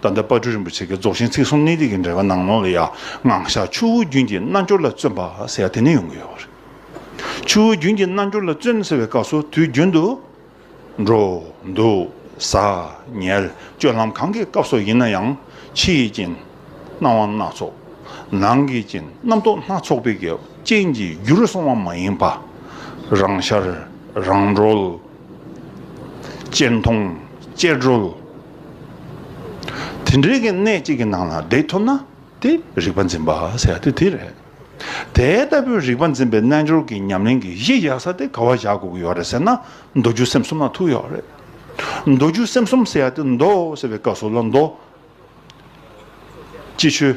ད་ལྟ་དཔའ་སྤྲུལ་རིན་པོ་ཆེ་གི་རྫོགས་ཆེན་ཚིག་གསུམ་གནད་ཏིག་གི་འགྲེལ་པ་ནང་ནོར་ལ་ཡ་ང་ཤ་ཆུ་བོ་རྒྱུན་གྱི་རྣལ་འབྱོར་ལ་བརྩོན་པ་ཟེར་བ་དེ་ནས་ཡོང་གི་ཡོད་པ་རེད། ཆུ་བོ་རྒྱུན་གྱི་རྣལ་འབྱོར་ལ་བརྩོན་ཟེར་བའི་སྐབས་སུ་དུས་རྒྱུན་དུ། འགྲོ། འདུག། ཟ། ཉལ། སྤྱོད་ལམ་གང་གི་སྐབས་སུ་ཡིན་ན་ཡང་ཕྱི་ཡི་རྐྱེན། སྣང་བ་སྣ་ཚོགས། ནང་གི་རྐྱེན་རྣམ་རྟོག་སྣ་ཚོགས་པའི་རྐྱེན་གྱིས་རྒྱུ་རུ་སོང་བ་མ་ཡིན་པ། རང་ཤར། རང་གྲོལ། གཅེར་མཐོང། གཅེར་རོལ། དེ་འདྲའི་གནས་གཅིག་གི་ནང་ལ་བསྡད་ཐུབ་ན་དེ་རིག་པ་འཛིན་པ་ཟེར་ཡ་དེ་དེ་རེད། དེ་ལྟ་བུའི་རིག་པ་འཛིན་པའི་རྣལ་འབྱོར་གྱི་ཉམས་ལེན་གྱི་གཞི་ཡག་ས་དེ་ག་བ་བཞག་དགོས་ཀྱི་ཡོད་རེད་ཟེར་ན་མདོ་རྒྱུད་སེམས་གསུམ་ལ་ཐུག་ཡོད་རེད། མདོ་རྒྱུད་སེམས་གསུམ་ཟེར་ཡ་དེ་མདོ་ཟེར་བའི་སྐབས་སུ་ལ་མདོ། ཅི་ཆོས།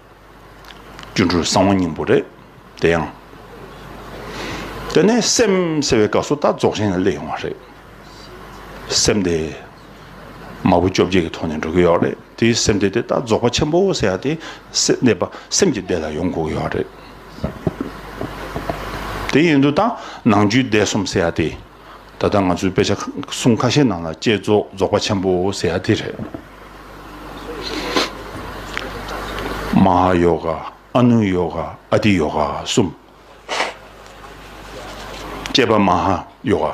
སྒྱུ་འཕྲུལ་གསང་བ་སྙིང་པོ་རེད། དེ་ཡང། དེ་ནས་སེམས་ཟེར་བའི་སྐབས་སུ་ད་རྫོགས་ཆེན་ལ་སླེབས་ཡོང་བ་རེད། སེམས་དེ། མ་བུ་བཅོ་བརྒྱད་ཀྱི་ཐོག་ནས་འགྲོ་གི་ཡོད་རེད་དེ་སེམས་དེ་དེ་ད་རྫོགས་པ་ཆེན་པོ་ཟེར་ཡག་དེ་སེམས་པ་སེམས་ཀྱི་སྡེ་ལ་ཡོང་དགོས་ཀྱི་ཡོད་རེད། དེ་ཡིན་དུ་ད་ནང་རྒྱུའི་སྡེ་གསུམ་ཟེར་ཡག་དེ་ད་ལྟ་ང་ཚོའི་དཔེ་ཆ་གསུམ་ཁ་ཤས་ནང་ལ་བསྐྱེད་རྫོགས་རྫོགས་པ་ཆེན་པོ་ཟེར་ཡ་དེ་རེད། མ་ཧཱ་ཡོ་ག་ཨ་ནུ་ཡོ་ག་ཨ་ཏི་ཡོ་ག་གསུམ། བསྐྱེད་པ་མ་ཧཱ་ཡོ་ག།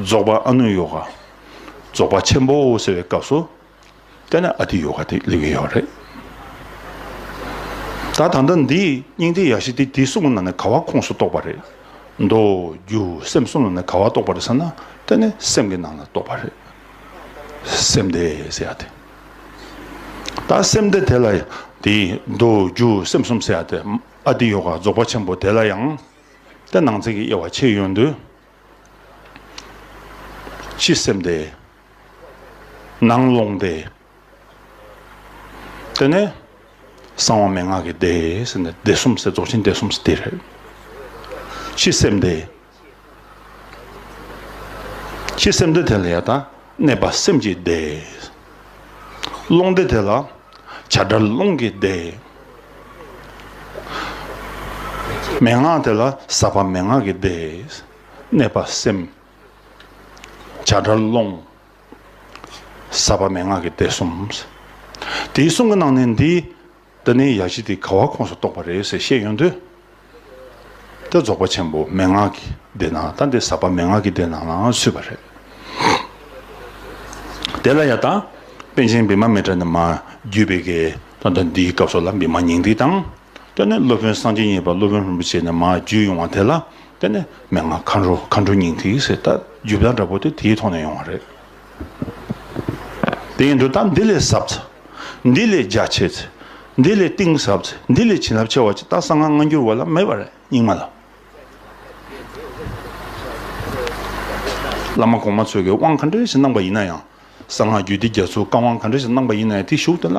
རྫོགས་པ་ཨ་ནུ་ཡོ་ག། རྫོགས་པ་ཆེན་པོ་ཟེར་བའི་སྐབས་སུ། དེ་ནས་ཨ་ཏི་ཡོ་ག་དེ་ལས་གི་ཡོག་རེད། ད་ད་ལྟ་འདི་སྙིང་ཐིག་ཡག་ཤེས་ཏེ་དེ་གསུམ་ལ་ནི་ག་བ་ཁུངས་སུ་གཏོགས་པ་རེད། མདོ། རྒྱུ། སེམས་གསུམ་ལ་ནི་ག་བ་གཏོགས་པ་རེད་ཟེར་ན་དེ་ནི་སེམས་ཀྱི་ནང་ལ་གཏོགས་པ་རེད། སེམས་དེ་ཟེར་ཡ་དེ། ད་སེམས་དེ་དེ་ལ་དེ་མདོ། རྒྱུ། སེམས་གསུམ་ཟེར་ཡ་དེ་ཨ་ཏི་ཡོ་ག་རྫོགས་པ་ཆེན་པོ་དེ་ལ་ཡང་དེ་ནང་ཚན་གྱི་དབྱེ་བ་ཕྱེ་ཡོད་འདུག། སྤྱི་སེམས་དེ། ནང་ཀློང་བདེ། དེ་ནས་གསང་བ་མན་ངག་གི་བདེ་ཟེར་ནས་བདེ་གསུམ་ཟེར་རྫོགས་ཆེན་བདེ་གསུམ་ཟེར་དེ་རེད། ཕྱི་སེམས་བདེ། ཕྱི་སེམས་བདེ་དེ་ལ་ཡང་དང་གནས་པ་སེམས་ཀྱི་བདེ། ཀློང་བདེ་དེ་ལ་བྱ་བྲལ་ཀློང་གི་བདེ། མན་ངག་དེ་ལ་ཟབ་པ་མན་ངག་གི་བདེ། གནས་པ་སེམས། བྱ་བྲལ་ཀློང། ས་པ་མན་ངག་གི་གཏེར་གསུམ། དེའི་གསུང་གི་ནང་ནས་འདི་ད་ནི་ཡ་བྱི་དེ་ག་བ་ཁོངས་སུ་གཏོགས་པ་རེད་ཟེར་བཤད་ཡོང་དུས། ད་རྫོགས་པ་ཆེན་པོ་མན་ངག་གི་སྡེ་ནང་ད་འདི་ས་པ་མན་ངག་གི་སྡེ་ནང་ལའང་ཚུད་པ་རེད། དེ་ལ་ཡང་ད་པན་ཆེན་བི་མ་མི་ཏྲ་ནི་མ་རྒྱུད་པའི་གེ་ད་འདིའི་སྐབས་སོགས་ལ་བི་མ་ཉིང་འདུས་དང། དེ་ནས་སློབ་དཔོན་སངས་རྒྱས་མཉེས་པ་སློབ་དཔོན་རིན་པོ་ཆེ་ནས་མར་རྒྱུད་ཡོང་བ་དེ་ལ་བརྟེན་ནས་མན་ངག་མཁའ་འགྲོ་མཁའ་འགྲོ་སྙིང་ཐིག་ཟེར་ལྟར་རྒྱུད་བདག་འདྲ་པོ་དེ་དེའི་ཐོག་ནས་ཡོང་བ་རེད། དེ་ཡིན་དུ་ད་འདི་ལས་ཟབ་ཚེ། འདི་ལས་རྒྱ་ཆེ་ཚེ། འདི་ལས་གཏིང་ཟབ་ཚེ་འདི་ལས་བྱིན་རླབས་ཆེ་བ་ཅིག་ད་གསང་སྔགས་སྔ་འགྱུར་བ་ལ་མེད་པ་རེད་རྙིང་མ་ལ། བླ་མ་གོང་མ་ཚོས་ཀྱི་དབང་ག་འགྲེལ་ཞིག་གནང་པ་ཡིན་ན་ཡང། གསང་སྔགས་རྒྱུད་སྡེ་རྒྱ་མཚོའི་བཀའ་དབང་ག་འདྲ་ཞིག་གནང་པ་ཡིན་ན་ཡང་དེའི་གཞུག་དེ་ལ།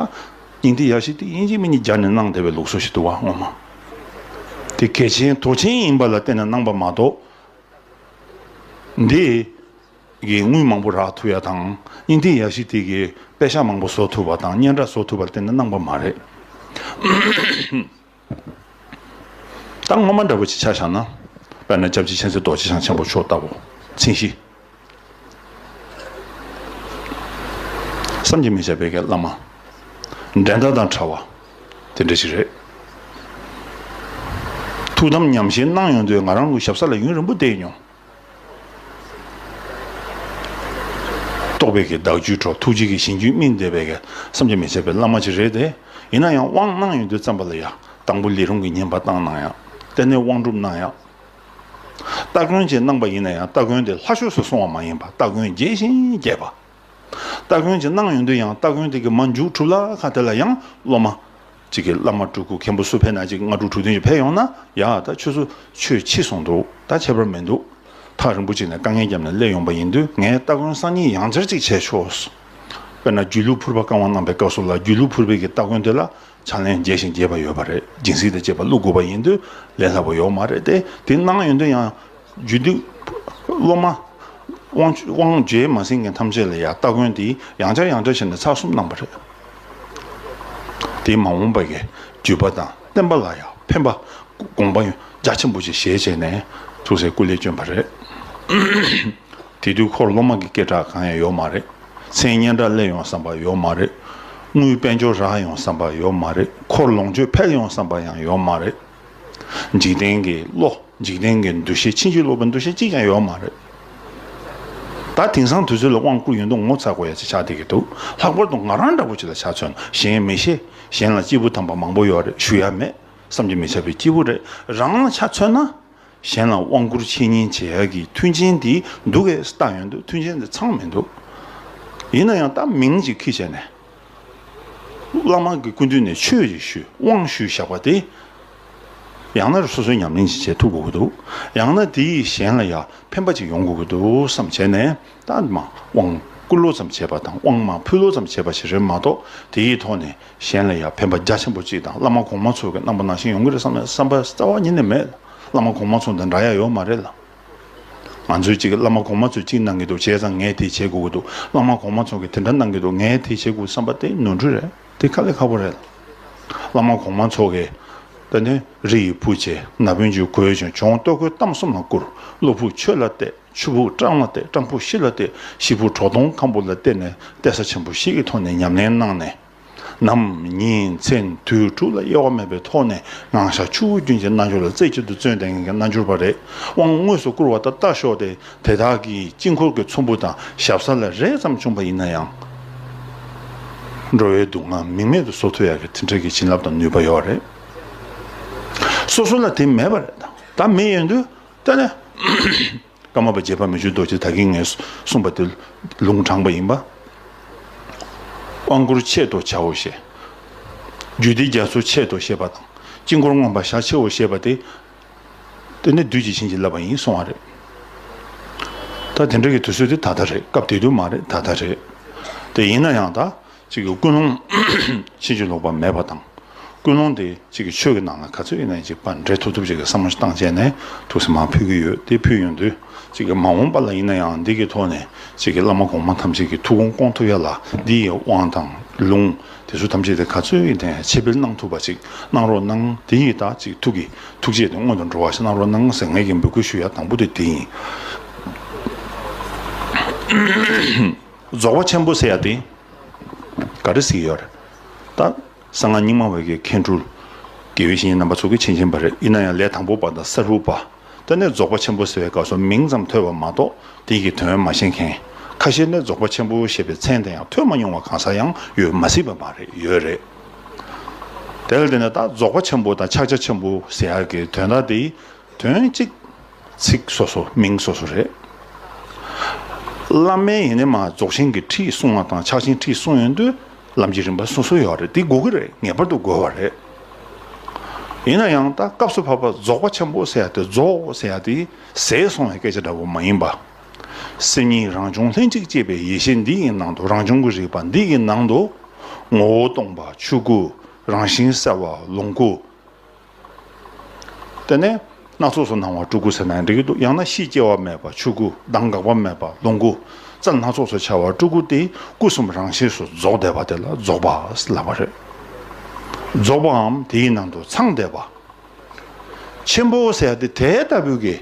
སྙིང་ཐིག་ཡར་ཞིག་ཏིག་དབྱིན་ཇིའི་མི་གཉིས་སྦྱར་ནས་གནང་བདེ་བའི་ལུགས་སྲོལ་ཞིག་འདུག་བ་ངོ་མ། དེ་གལ་ཆེན་དོགས་ཆེན་ཡིན་པ་ལ་བརྟེན་ནས་གནང་པ་མ་གཏོགས། འདིས། དངུལ་མང་པོ་རག་ཐུབ་ཡ་དང། སྙིང་ཐིག་ཡར་ཞིག་ཏིག་གིས་དཔེ་ཆ་མང་པོ་བཟོ་ཐུབ་པ་དང་སྙན་གྲགས་བཟོ་ཐུབ་པར་བརྟེན་ནས་གནང་པ་མ་རེད། ད་སྔོན་མ་འདྲ་བོ་ཅིག་ཆ་བཞག་ན། དཔེར་ན་སྐྱབས་རྗེ་མཁྱེན་བརྩེ་རྡོ་རྗེ་འཆང་ཆེན་པོ་མཆོག་ལྟ་བུ། ཚིག་བཞི། བསམ་གྱིས་མི་ཁྱབ་པའི་བཀའི་བླ་མ། འགྲན་ཟླ་དང་བྲལ་བ། དེ་འདྲ་ཞིག་རེད། ཐུགས་དམ་ཉམས་བཞེས་གནང་ཡོང་དུས་ང་རང་ལུས་ཞབས་ས་ལ་ཡུན་རིང་པོ་བསྡད་མྱོང། རྟོགས་པའི་གྱི་བདག་རྒྱུད་ཁྲོ་ཐུགས་རྗེ་གི་ཞིང་རྒྱུད་སྨིན་འདས་པའི་གི་བསམ་གྱིས་མི་ཁྱབ་པའི་བླ་མ་ཅིག་རེད་དེ། ཡིན་ན་ཡང་དབང་གནང་ཡོང་དུས་བརྩམས་པ་ལ་ཡང་དང་པོ་ལས་རུང་གི་ཉིན་བར་བཏང་གནང་ཡང། གཏན་ནས་དབང་སྒྲུབ་གནང་ཡང། སྟ་གོན་བཅས་གནང་པ་ཡིན་ན་ཡང་སྟ་གོན་དེ་ལྷ་ཆོས་སུ་སོང་བ་མ་ཡིན་པར་སྟ་གོན་རྒྱས་ཤིང་རྒྱས་པ། སྟ་གོན་ཅིག་གནང་ཡོང་དུས་ཡང་སྟ་གོན་དེ་གི་མ་མཇུག་གྲུབ་ལ་ཁ་དེ་ལ་ཡང་སློབ་མ། གཅིག་གིས་བླ་མ་སྤྲུལ་སྐུ་མཁན་པོ་སུ་ཕེབས་ན་ཅིག་སྔ་དྲུག་དྲུག་བདུན་ཅིག་ཕེབས་ཡོང་ན་ཡག་ད་ཁྱོད་ཚོ་ཆོས་ཕྱི་སོང་འདུག་ད་ཁྱད་པར་མི་འདུག་ཐག་རིང་པོ་ཅིག་ནས་དཀའ་ངལ་བརྒྱབ་ནས་སླེབས་ཡོང་པ་ཡིན་དུས་ངས་སྟ་གོན་གསང་སྙིང་ཡང་བསྐྱར་ཅིག་བྱས་ཆོག་དཔེར་ན་རྒྱུད་ལུགས་ཕུར་པ་བཀང་བ་གནང་པའི་སྐབས་སུ་ལ་རྒྱུད་ལུགས་ཕུར་པའི་གི་སྟ་གོན་དེ་ལ་ཕྱག་ལེན་རྒྱས་ཤིང་རྒྱས་པ་ཡོད་པ་རེད་སྦྱིན་སྲེག་དང་བཅས་པ་བླུག་དགོས་པ་ཡིན་དུས་ལས་སླ་པོ་ཡོད་མ་རེད་དེ་དེ་གནང་ཡོང་དུས་ཡང་རྒྱུད་སྡེ་སློབ་མ། དབང། རྗེས་མ་ཟིན་མཁན་ཐམས་ཅད་ལ་ཡང་སྟ་གོན་འདིས་ཡང་བྱ་ཡང་འདྲ་བྱས་ནས་ཚགས་གསུམ་གནང་བ་རེད། དེས་མ་འོངས་པའི་བརྒྱུད་པ་དང་བསྟན་པ་ལ་ཡང་ཕན་པ་དགོངས་པ་རྒྱ་ཆེན་པོ་ཆེ་བཞེས་བྱས་ནས་ཐུགས་སྲས་སྐུ་ལས་བྱོན་པ་རེད། དེ་དུས་ཁོར་སློབ་མ་གི་སྐད་གྲགས་གང་ཡང་ཡོད་མ་རེད། མཚན་སྙན་སྒྲ་བསླད་ཡོང་བསམ་པ་ཡོད་མ་རེད། དངུལ་དཔལ་འབྱོར་རག་ཡོང་བསམ་པ་ཡོད་མ་རེད། འཁོར་ལོངས་སྤྱོད་འཕེལ་ཡོང་བསམ་པ་ཡང་ཡོད་མ་རེད། འཇིག་རྟེན་གྱི་བློ་འཇིག་རྟེན་གྱི་འདུ་ཤེས་ཕྱིན་ཅི་ལོག་པའི་འདུ་ཤེས་གཅིག་ཀྱང་ཡོད་མ་རེད། ད་དེང་སང་དུས་ཚོད་ལ་དབང་བསྐུར་ཡོད་འདུག་ངོ་ཚ་དགོས་ཡ་ཅི་ཆགས་བསྡད་ཀྱི་འདུག་ལྷག་པར་དུ་ང་རང་འདྲ་བོ་ཅིག་ལ་ཆ་མཚོན་ན་གཞན་མི་ཤེས་གཞན་ལ་སྐྱིད་པོ་དམ་པ་མང་པོ་ཡོད་རེད་ཞུ་ཡ་མེད་བསམ་གྱི་མི་ཆགས་པའི་སྐྱིད་པོ་རེད་རང་ལ་ཆ་མཚོན་ན་གཞན་ལ་དབང་བསྐུར་འཆད་ཉན་བྱེད་ཡ་གི་མཐུན་རྐྱེན་དེ་འདུག་གས་ད་ཡོད་འདུག་མཐུན་རྐྱེན་དེ་ཚང་མི་འདུག་ཡིན་ན་ཡང་ད་མིང་ཅིག་ཁིས་བྱས་ནས། བླ་མ་གི་སྐུ་མདུན་ནས་ཆོས་རེ་ཞུས་དབང་ཞུས་བཞག་པ་དེ། ཡང་ན་རུ་སོ་སོའི་ཉམས་ལེན་ཅིག་བྱེད་ཐུབ་དགོས་ཀྱི་འདུག་ཡང་ན་དེ་ཡིས་གཞན་ལ་ཡང་ཕན་པ་ཅིག་ཡོང་དགོས་ཀྱི་འདུག་བསམ་བྱས་ནས་ཏན་མ་དབང་བསྐུར་ལོ་ཙམ་བྱས་པ་དང་དབང་མ་ཕུལ་ལོ་ཙམ་བྱས་པ་ཞིག་རེད་མ་གཏོགས་དེ་ཡི་ཐོག་ནས་གཞན་ལ་ཡང་ཕན་པ་རྒྱ་ཆེན་པོ་ཅིག་དང་བླ་མ་གོང་མ་ཚོ་གི་རྣམ་པ་ནང་བཞིན་ཡོང་གི་རེད་བསམ་ན་བསམ་པ་རྩ་བ་ཉིད་ནས་མེད་ལ་བླ་མ་གོང་མ་ཚོ་འདི་འདྲ་ཡ་ཡོད་མ་རེད་ལ། ང་ཚོས་ཅིག་བླ་མ་གོང་མ་ཚོས་ཅིག་གནང་གི་འདུག་བྱས་ཙང་ངས་དེ་བྱེད་དགོས་ཀྱི་འདུག་བླ་མ་གོང་མ་ཚོ་གིས་དེ་འདྲ་གནང་གི་འདུག་ངས་དེ་བྱེད་དགོས་བསམ་པ་དེ་ནོར་འཁྲུལ་རེད་དེ་ཁ་ལས་ཁ་པོ་རེད། བླ་མ་གོང་མ་ཚོ་གིས། ད་ནི་རི་ཡི་བུ་བྱས་ན་བོན་ཆུ་གོས་ཆོས་འབྱུང་ལྟོ་གོས་གཏམ་གསུམ་ལ་བསྐུར། གློ་བུར་ཆོས་ལ་གཏད་ཆུ་བུར་སྤྲང་ལ་གཏད་སྤྲང་བུ་ཤི་ལ་གཏད་ཤི་བུར་གྲོག་སྟོང་ཁམ་བུ་ལ་གཏད་ནས་གཏད་ས་ཆེན་པོ་བཞི་ཀྱི་ཐོག་ནས་ཉམས་ལེན་གནང་ནས། ནམ་ཉིན་མཚན་དུས་དྲུག་ལ་དབྱེ་བ་མེད་པའི་ཐོག་ནས་སྣང་ཤར་ཆུ་བོ་རྒྱུན་གྱི་རྣལ་འབྱོར་ལ་རྩེ་གཅིག་ཏུ་བརྩོན་ཏེ་ངེས་ཀྱི་རྣལ་འབྱོར་པ་རེས་དབང་དངོས་སུ་བསྐུར་བ་ད་ལྟ་ཤོག་སྟེ་དེ་དག་གིས་དཀྱིལ་འཁོར་གྱི་ཚོམ་བུ་དང་ཞབས་ས་ལ་རེ་ཙམ་བྱུང་བ་ཡིན་ན་ཡང། འགྲོ་བའི་སྡུག་བསྔལ་མིང་མེད་དུ་བཟོ་ཐུབ་ཡག་གི་དེ་འཕྲལ་གྱི་བྱིན་རླབས་དང་ནུས་པ་ཡོད་རེད། སོ་སོ་ལ་དེ་མེད་པ་རེད་ད་མེད་ཡོད་འདུག་ད་ནས། ཀརྨ་པ་རྗེ་ཕ་མེས་ཆོས་རྡོ་རྗེ་ད་གིན་ངས་གསུངས་པ་དེ་ལུང་དྲངས་པ་ཡིན། དབང་བསྐུར་ཆེད་དུ་བྱའོ་ཞེས། རྒྱུད་སྡེ་རྒྱ་མཚོའི་ཆེད་དུ་ཞེས་པ་དང་དཀྱིལ་འཁོར་མངོན་པར་ཞག་ཕྱེའོ་ཞེས་པ་དེ། དེ་ནི་བདུད་ཀྱིས་བྱིན་གྱིས་བརླབས་པ་ཡིན་གསུངས་བ་རེད། ད་དེ་འདྲ་གི་དུས་ཚོད་དེ་ད་ལྟ་རེད་སྐབས་དེ་དུས་མ་རེད་ད་ལྟ་རེད། དེ་ཡིན་ན་ཡང་ད་གཅིག་གི་ཀུན་སློང། ཕྱིན་ཅི་ལོག་པ་མེད་པ་དང། ཀུན་སློང་དེ་གཅིག་གི་ཆོས་ཀྱི་ནང་ལ་ག་ཚོད་ཡིན་ན་ཡིན་པ་འདྲེ་ཐུབ་ཐུབ་ཅིག་གི་བསམ་བློ་བཏང་བྱས་ནས་ཐུགས་སེམས་མ་ཕུལ་གྱི་ཡོད་དེ་ཕུལ་ཡོང་དུས་གཅིག་གི་མ་འོངས་པ་ལ་ཡིན་ན་ཡང་འདི་གི་ཐོག་ནས་གཅིག་གི་བླ་མ་གོང་མ་ཐམས་ཅད་ཀྱི་ཐུགས་དགོངས་སྐོང་ཐུབ་ཡ་ལ་འདི་ཡི་དབང་དང་ལུང་དེ་ཚོ་ཐམས་ཅད་དེ་ག་ཚོད་ཡིན་ན་ཡང་ཕྱི་འཕེལ་གནང་ཐུབ་པ་ཅིག་གནང་རོགས་གནང་དེ་ཡི་དྭགས་གཅིག་ཐུགས་ཀྱི་ཐུགས་རྗེ་དེ་སྔོན་དུ་འགྲོ་བ་ཞིག་གནང་རོགས་གནང་ཟེར་ངེད་ཀྱི་འབོད་སྐུལ་ཞུ་ཡ་དང་པོ་དེ་དེ་ཡིན། རྫོགས་པ་ཆེན་པོ་སེ་ཡ་ཏི། ག་རི་སི་ཡོར། ད། གསང་སྔགས་རྙིང་མ་བའི་གེ་གྷན་དྲུ། དགེ་བའི་བཤེས་གཉེན་རྣམ་པ་ཚོགས་ཀྱིས་ཆེན་ཆེན་པ་རེ་ཨི་ན་ཡང་ལས་དང་པོ་པ་དང་ས་རུ་པ། ད་ནས་རྫོགས་པ་ཆེན་པོ་ཟེར་བའི་སྐབས་སུ་མིང་ཙམ་ཐོས་པ་མ་གཏོགས་དེ་ཀྱི་དོན་མ་ཤེས་མཁན། ཁ་ཤས་ནས་རྫོགས་པ་ཆེན་པོ་ཞེས་པའི་མཚན་དེ་ཡང་ཐོས་མ་མྱོང་བ་གང་ཟག་ཡང་ཡོད་མ་སྲིད་པ་མ་རེད་ཡོད་རེད། དེ་ལ་བརྟེན་ནས་ད་རྫོགས་པ་ཆེན་པོ་དང་ཕྱག་རྒྱ་ཆེན་པོ་ཟེར་ཡག་གི་དོན་དག་དེའི་དོན་གཅིག། ཚིག་སོ་སོ་མིང་སོ་སོ་རེད། བླ་མའི་ཡིན་ནི་མ་རྫོགས་ཆེན་གྱི་ཁྲིད་གསུང་བ་དང་ཕྱག་ཆེན་ཁྲིད་གསུང་ཡོན་དུ་ལམ་གྱི་རིམ་པ་སོ་སོ་ཡོད་རེད་དེ་དགོས་ཀྱི་རེད་ངེས་པར་དུ་དགོས་བ་རེད། ཡིན་ན་ཡང་ད་སྐབས་སུ་བབས་པ་རྫོགས་པ་ཆེན་པོ་ཟེར་ཡ་དེ་རྫོགས་ཟེར་ཡ་དེ་ཟས་སོང་བའི་སྐད་ཆ་འདྲ་བོ་མ་ཡིན་པ། སེམས་ཉིད་རང་བྱུང་ལྷན་ཅིག་སྐྱེས་པའི་ཡེ་ཤེས་འདི་ཡི་ནང་དུ་རང་བྱུང་གི་རིག་པ་འདི་ཡི་ནང་དུ། ངོ་བོ་སྟོང་པ་ཆོས་སྐུ་རང་བཞིན་གསལ་བ་ལོངས་སྐུ། དེ་ནས་སྣ་ཚོགས་སུ་སྣང་བ་སྤྲུལ་སྐུ་ཟེར་ན་འགྲིག་གི་འདུག་ཡང་ན་གཤིས་སྐྱེ་བ་མེད་པ་ཆོས་སྐུ་གདངས་འགག་པ་མེད་པ་ལོངས་སྐུ་རྩ་སྣ་ཚོགས་སུ་འཆར་བ་སྤྲུལ་སྐུ་སྟེ་སྐུ་གསུམ་རང་ཤེས་སུ་རྫོགས་བསྡད་པ་དེ་ལ་རྫོགས་པ་ལབ་པ་རེད། རྫོགས་པའམ་དེའི་ནང་དུ་ཚང་བསྡད་པ། ཆེན་པོ་ཟེར་ཡ་དེ་དེ་ལྟ་བུ་གི།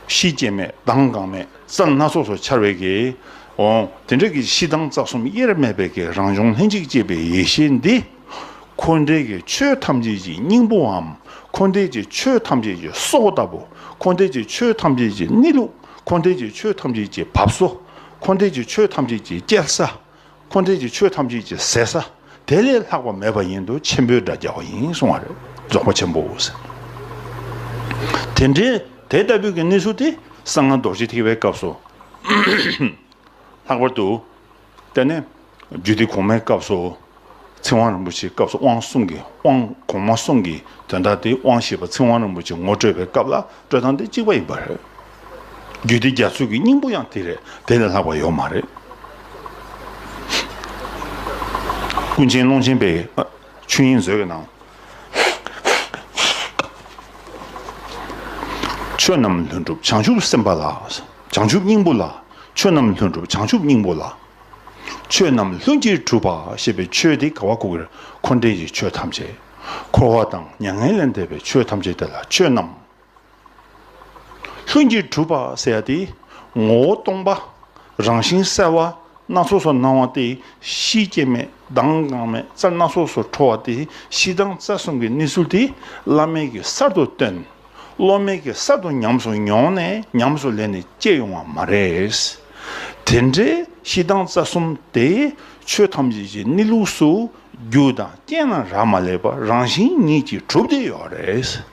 གཤིས་སྐྱེ་མེད་གདངས་འགག་མེད་རྩ་སྣ་ཚོགས་སུ་འཆར་བའི་གི། འོང། དེ་འདྲ་གི་གཤིས་གདངས་རྩ་གསུམ་དབྱེར་མེད་པའི་གི་རང་བྱུང་ལྷན་ཅིག་སྐྱེས་པའི་ཡེ་ཤེས་འདི། འཁོར་འདས་ཀྱི་ཆོས་ཐམས་ཅད་ཀྱི་སྙིང་པོའམ་འཁོར་འདས་ཀྱི་ཆོས་ཐམས་ཅད་ཀྱི་སྲོག་ལྟ་བུ། འཁོར་འདས་ཀྱི་ཆོས་ཐམས་ཅད་ཀྱི་གནས་ལུགས། འཁོར་འདས་ཀྱི་ཆོས་ཐམས་ཅད་ཀྱི་བབས་སོ། འཁོར་འདས་ཀྱི་ཆོས་ཐམས་ཅད་ཀྱི་སྐྱེལ་ས། འཁོར་འདས་ཀྱི་ཆོས་ཐམས་ཅད་ཀྱི་ཟད་ས། དེ་ལས་ལྷག་པ་མེད་པ་ཡིན་དུ་ཆེན་པོའི་སྒྲ་རྒྱག་པ་ཡིན་གསུང་བ་རེད་རྫོགས་པ་ཆེན་པོ་ཟེར། དེ་འདྲའི་དེ་ལྟ་བུའི་གནས་ཚུལ་དེ་གསང་སྔགས་རྡོ་རྗེ་ཐེག་པའི་སྐབས་སུ། ལྷག་པར་དུ། དེ་ནས་རྒྱུད་སྡེ་གོང་མའི་སྐབས་སུ། ཚིག་དབང་རིན་པོ་ཆེའི་སྐབས་སུ་དབང་གསུམ་གྱི་དབང་གོང་མ་གསུམ་གྱི་དོན་དག་དེ་དབང་ཞེས་པ་ཚིག་དབང་རིན་པོ་ཆེ་ངོ་སྤྲོད་པའི་སྐབས་ལ་སྤྲོད་སྟངས་དེ་གཅིག་པ་ཡིན་པ་རེད། རྒྱུད་སྡེ་རྒྱ་མཚོའི་གྱི་སྙིང་པོ་ཡང་དེ་རེད་དེ་ལས་ལྷག་པ་ཡོད་མ་རེད། ཀུན་མཁྱེན་ཀློང་ཆེན་པའི་ཆོས་དབྱིངས་མཛོད་ཀྱི་ནང། ཆོས་རྣམས་ལྷུན་གྲུབ་བྱང་ཆུབ་སེམས་དཔའ་ལ། བྱང་ཆུབ་སྙིང་པོ་ལ། ཆོས་རྣམས་ལྷུན་གྲུབ་བྱང་ཆུབ་སྙིང་པོ་ལ། ཆོས་རྣམས་ལྷུན་གྱིས་གྲུབ་པ་ཞེས་པའི་ཆོས་དེ་དགའ་བ་ཀུ་ཀེར་འཁོར་འདས་ཀྱི་ཆོས་ཐམས་ཅད། འཁོར་བ་དང་མྱ་ངན་ལས་འདས་པའི་ཆོས་ཐམས་ཅད་དེ་ལ་ཆོས་རྣམས་ལྷུན་གྱིས་གྲུབ་པ་ཟེར་ཡ་སྟེ། ངོ་བོ་སྟོང་པ། རང་བཞིན་གསལ་བ། སྣ་ཚོགས་སུ་སྣང་བ་སྟེ་གཤིས་སྐྱེ་མེད་མདངས་གང་མེད་རྩལ་སྣ་ཚོགས་སུ་འཕྲོ་བ་སྟེ་གཤིས་མདངས་རྩལ་གསུམ་གྱི་གནས་ཚུལ་དེ་བླ་མེད་ཀྱི་གསར་དུ་སྟོན། སློབ་མའི་གེ་སར་དུ་ཉམས་སུ་མྱོང་ནས་ཉམས་སུ་ལེན་ནས་སྐྱེས་ཡོང་བ་མ་རེད། དེ་འདྲའི་གཤིས་སྟངས་རྩ་གསུམ་དེ་ཆོས་ཐམས་ཅད་ཀྱི་གནས་ལུགས་སུ་རྒྱུ་དང་རྐྱེན་ལ་རག་མ་ལས་པ་རང་བཞིན་ཉིད་ཀྱིས་གྲུབ་བསྡད་ཡོད་རེད།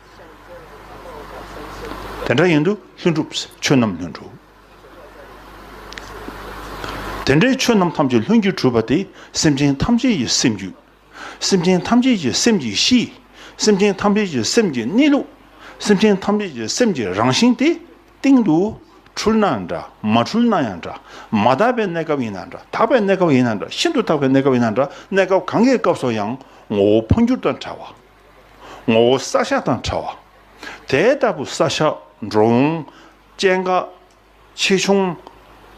དེ་འདྲ་ཡིན་དུས་ལྷུན་གྲུབ་ཆོས་རྣམས་ལྷུན་གྲུབ། དེ་འདྲའི་ཆོས་རྣམས་ཐམས་ཅད་ལྷུན་གྱིས་གྲུབ་པ་དེ་སེམས་ཅན་ཐམས་ཅད་ཀྱི་སེམས་རྒྱུད། སེམས་ཅན་ཐམས་ཅད་ཀྱི་སེམས་ཀྱི་གཤིས། སེམས་ཅན་ཐམས་ཅད་ཀྱི་སེམས་ཀྱི་གནས་ལུགས། སེམས་ཅན་ཐམས་ཅད་ཀྱི་སེམས་ཀྱི་རང་བཞིན་དེ། སྟེང་དུ་འཁྲུལ་ན་འདྲ་མ་འཁྲུལ་ན་ཡང་འདྲ། མ་དག་པའི་གནས་སྐབས་ཡིན་ན་འདྲ་དག་པའི་གནས་སྐབས་ཡིན་ན་འདྲ་ཤིན་ཏུ་དག་པའི་གནས་སྐབས་ཡིན་ན་འདྲ་གནས་སྐབས་གང་གི་སྐབས་སུ་ཡང་ངོ་བོ་འཕོ་འགྱུར་དང་བྲལ་བ། ངོ་བོ་བསགས་བཞག་དང་བྲལ་བ། དེ་ལྟ་བུ་བསགས་བཞག་འགྲོ་འོང་སྐྱེ་འགག། ཆེ་ཆུང།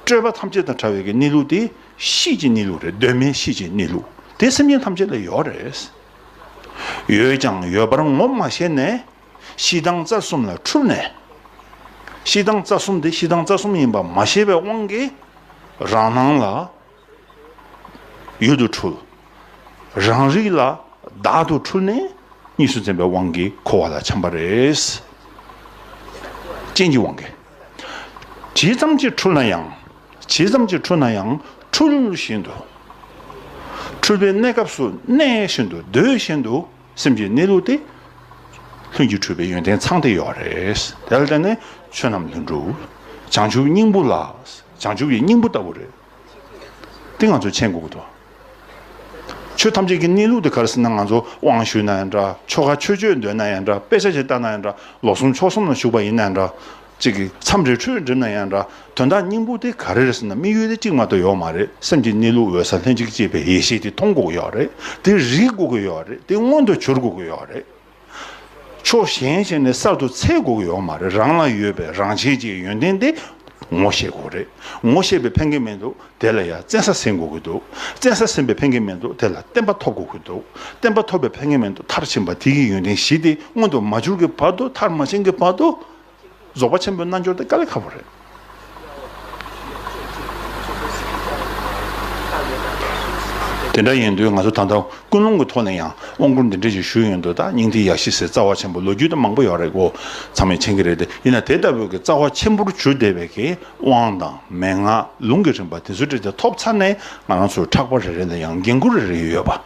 སྤྲོས་པ་ཐམས་ཅད་དང་བྲལ་བའི་གནས་ལུགས་དེ་གཤིས་ཀྱི་གནས་ལུགས་རེད་གདོད་མའི་གཤིས་ཀྱི་གནས་ལུགས་དེ་སེམས་ཅན་ཐམས་ཅད་ལ་ཡོད་རེད། ཡོད་ཀྱང་ཡོད་པར་ངོ་མ་ཤེས་ནས་གཤིས་དང་རྩ་གསུམ་ལ་འཁྲུལ་ནས། གཤིས་དང་རྩ་གསུམ་དེ་གཤིས་དང་རྩ་གསུམ་ཡིན་པ་མ་ཤེས་པའི་དབང་གིས་རང་སྣང་ལ་ཡུལ་དུ་འཁྲུལ། རང་རིག་ལ་བདག་ཏུ་འཁྲུལ་ནས་གཉིས་སུ་འཛིན་པའི་དབང་གིས་འཁོར་བ་ལ་འཁྱམས་པ་རེད། རྐྱེན་གྱི་དབང་གིས། ཇི་ཙམ་གྱིས་འཁྲུལ་ན་ཡང། ཇི་ཙམ་གྱིས་འཁྲུལ་ན་ཡང་འཁྲུལ་བཞིན་དུ། འཁྲུལ་པའི་གནས་སྐབས་སུ་གནས་བཞིན་དུ་སྡོད་བཞིན་དུ་སེམས་ཀྱི་གནས་ལུགས་དེ། ལྷུན་གྱིས་གྲུབ་པའི་ཡོན་ཏན་ཚང་སྟེ་ཡོད་རེད། དེ་ལ་བརྟེན་ནས་ཆོས་རྣམས་ལྷུན་གྲུབ། བྱང་ཆུབ་སྙིང་པོ་ལ། བྱང་ཆུབ་ཀྱི་སྙིང་པོ་ལྟ་བུ་རེད། དེ་ང་ཚོས་མཁྱེན་དགོས་ཀྱི་འདུག་ཆོས་ཐམས་ཅད་ཀྱི་གནས་ལུགས་དེ་གར་སྲིད་ན་ང་ཚོ་དབང་ཞུས་ན་ཡང་འདྲ་ཆོ་ག་ཆོས་སྤྱོད་འདོན་ན་ཡང་འདྲ་དཔེ་ཆ་ཞིག་བལྟ་ན་ཡང་འདྲ་ལོ་གསུམ་ཕྱོགས་གསུམ་ལ་བཞུགས་པ་ཡིན་ན་ཡང་འདྲ་ཅིག་གིས་མཚམས་རེ་འཁྲུལ་འགྲིབ་ན་ཡང་འདྲ་དོན་དག་སྙིང་པོ་དེ་ག་རེར་སྲིད་ན་དམིགས་ཡུལ་དེ་གཅིག་མ་གཏོགས་ཡོད་མ་རེད་སེམས་ཀྱི་གནས་ལུགས་འོད་གསལ་ལྷན་ཅིག་སྐྱེས་པའི་ཡེ་ཤེས་དེ་མཐོང་དགོས་ཀྱི་ཡོད་རེད་དེ་རིག་དགོས་ཀྱི་ཡོད་རེད་དེ་མངོན་དུ་གྱུར་དགོས་ཀྱི་ཡོད་རེད། ཕྱོགས་གཞན་ཞིག་ནས་གསར་དུ་ཚད་དགོས་ཡོད་མ་རེད་རང་ལ་ཡོད་པའི་རང་བྱེད་ཀྱི་ཡོན་ཏན་དེ་ངོ་ཤེས་དགོས་རེད་ངོ་ཤེས་པའི་ཕན་ཁེ་མེད་འདུག་དེ་ལ་ཡང་བཙན་ས་ཟིན་དགོས་ཀྱི་འདུག་བཙན་ས་ཟིན་པའི་ཕན་ཁེ་མེད་འདུག་དེ་ལ་བསྟན་པ་ཐོབ་དགོས་ཀྱི་འདུག་བསྟན་པ་ཐོབ་པའི་ཕན་ཁེ་མེད་འདུག་མཐར་ཕྱིན་པ་དེ་གི་ཡོན་ཏན་བཞི་དེ་མངོན་དུ་མ་གྱུར་གྱི་བར་དུ་མཐར་མ་ཕྱིན་གྱི་བར་དུ། རྫོགས་པ་ཆེན་པོའི་རྣལ་འབྱོར་དེ་དཀའ་ལས་ཁག་པོ་རེད། དེ་འདྲ་ཡིན་དུས་ང་ཚོ་ད་ལྟ་ཀུན་སློང་གི་ཐོག་ནས་ཡང་དབང་བསྐུར་འདི་འདྲ་ཞིག་ཞུས་ཡོད་འདུག་ད་སྙིང་ཐིག་ཡག་ཤི་ཟེར་རྩ་བ་ཆེན་པོ་ལོ་རྒྱུས་དེ་མང་པོ་ཡོད་རེད་གོ་ཚང་མས་མཁྱེན་གྱི་རེད་དེ་ཡིན་ན་དེ་ལྟ་བུ་གི་རྩ་བ་ཆེན་པོར་གྱུར་བདེ་བའི་གི་དབང་དང་མན་ངག་ལུང་གི་རིམ་པ་དེ་ཚོ་འབྲི་སྟེ་ཐོབ་ཚར་ནས་ང་རང་ཚོར་ཕྲག་པ་རེ་རེ་ལ་ཡང་འགན་ཁུར་རེ་རེ་ཡོད་པ།